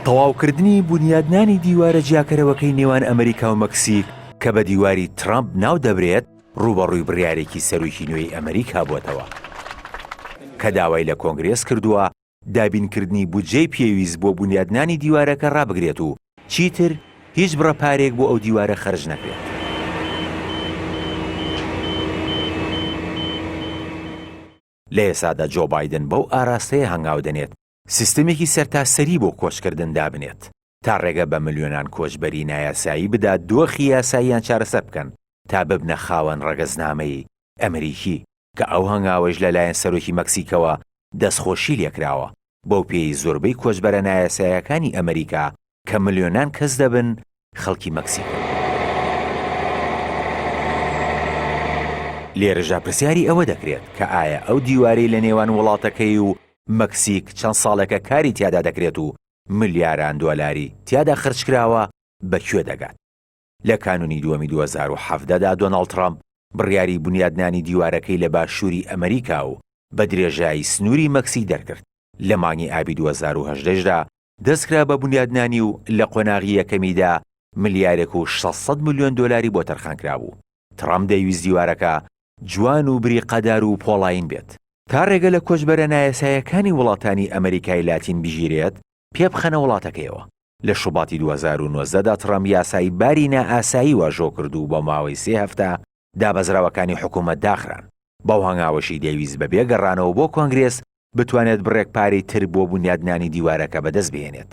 تەواوکردنی بونیادنانی دیوارە جیاکەرەوەکەی نێوان ئەمریکا و مەکسیک کە بە دیواری ترەمپ ناودەبرێت، ڕووبەڕووی بڕیارێکی سەرۆکی نوێی ئەمریکا بووەتەوە، کە داوای لە کۆنگرێس کردووە دابینکردنی بودجەی پێویست بۆ بونیادنانی دیوارەکە رابگرێت و چیتر هیچ بڕە پارەیەک بۆ ئەو دیوارە خەرج نەکرێت. لە ئێستادا جۆ بایدن بەو ئاراستەیە هەنگاو دەنێت سیستەمێکی سەرتاسەری بۆ کۆچکردن دابنێت، تا رێگە بە ملیۆنان کۆچبەری نایاسایی بدات دۆخی یاساییان چارەسەر بکەن تا ببنە خاوەن رەگەزنامەی ئەمریکی. کە ئەو هەنگاوەیش لە لایەن سەرۆکی مەکسیکەوە دەستخۆشی لێکراوە، بەو پێیەی زۆربەی کۆچبەرە نایاساییەکانی ئەمریکا کە ملیۆنان کەس دەبن، خەڵکی مەکسیکن. لێرەشدا پرسیاری ئەوە دەکرێت کە ئایا ئەو دیوارەی لە نێوان وڵاتەکەی و مەکسیک چەند ساڵێکە کاری تیادا دەکرێت و ملیاران دۆلاری تیادا خەرجکراوە، بە کوێ دەگات؟ لە کانوونی دووەمی دوو هەزار و حەڤدە دا دۆناڵد تڕامپ بڕیاری بونیادنانی دیوارەکەی لە باشووری ئەمریکا و بە درێژایی سنووری مەکسیک دەرکرد، لە مانگی ئابی دوو هەزار و هەژدە یش دا دەستکرا بە بونیادنانی و لە قۆناغی یەکەمی دا ملیارێک و شەش سەد ملیۆن دۆلاری بۆ تەرخانکرابوو. تڕامپ دەیویست دیوارەکە جوان و بریقەدار و پۆڵایین بێت، تا رێگە لە کۆچبەرە نایاساییەکانی وڵاتانی ئەمریکای لاتین بگیرێت پێبخەنە وڵاتەکەیەوە. لە شوباتی دوو هەزار و نۆزدە دا تڕەمپ یاسای باری نائاسایی واژۆ کرد و بۆ ماوەی سێ هەفتە دابەزراوەکانی حکوومەت داخران، بەو هەنگاوەشی دەیویست بەبێ گەڕانەوە بۆ کۆنگرێس بتوانێت بڕێک پارەی تر بۆ بونیادنانی دیوارەکە بەدەست بهێنێت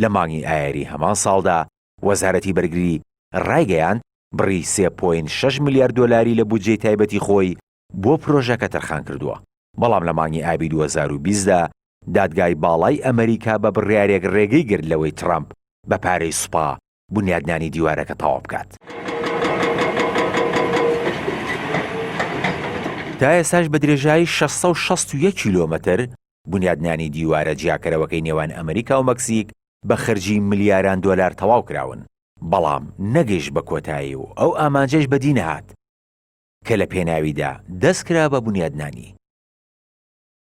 لە مانگی ئایاری هەمان ساڵدا وەزارەتی بەرگری رایگەیاند، بڕی سێ پۆینت شەش ملیار دۆلاری لە بودجەی تایبەتی خۆی بۆ پرۆژەکە تەرخانکردووە، بەڵام لە مانگی ئابی دوو هەزار و بیست دا دادگای باڵای ئەمەریکا بە بڕیارێک رێگەی گرت لەوەی ترەمپ بە پارەی سوپا بونیادنانی دیوارەکە تەواوبکات. تا ئێستاش بە درێژایی شەش سەد و شەست و یەک کیلۆمەتر بنیادنانی دیوارە جیاکەرەوەکەی نێوان ئەمریکا و مەکسیک بە خەرجی ملیاران دۆلار تەواو کراون، بەڵام نەگەیشت بە کۆتایی و ئەو ئامانجەش بەدی نەهات کە لە پێناویدا دەست کرا بە بنیادنانی.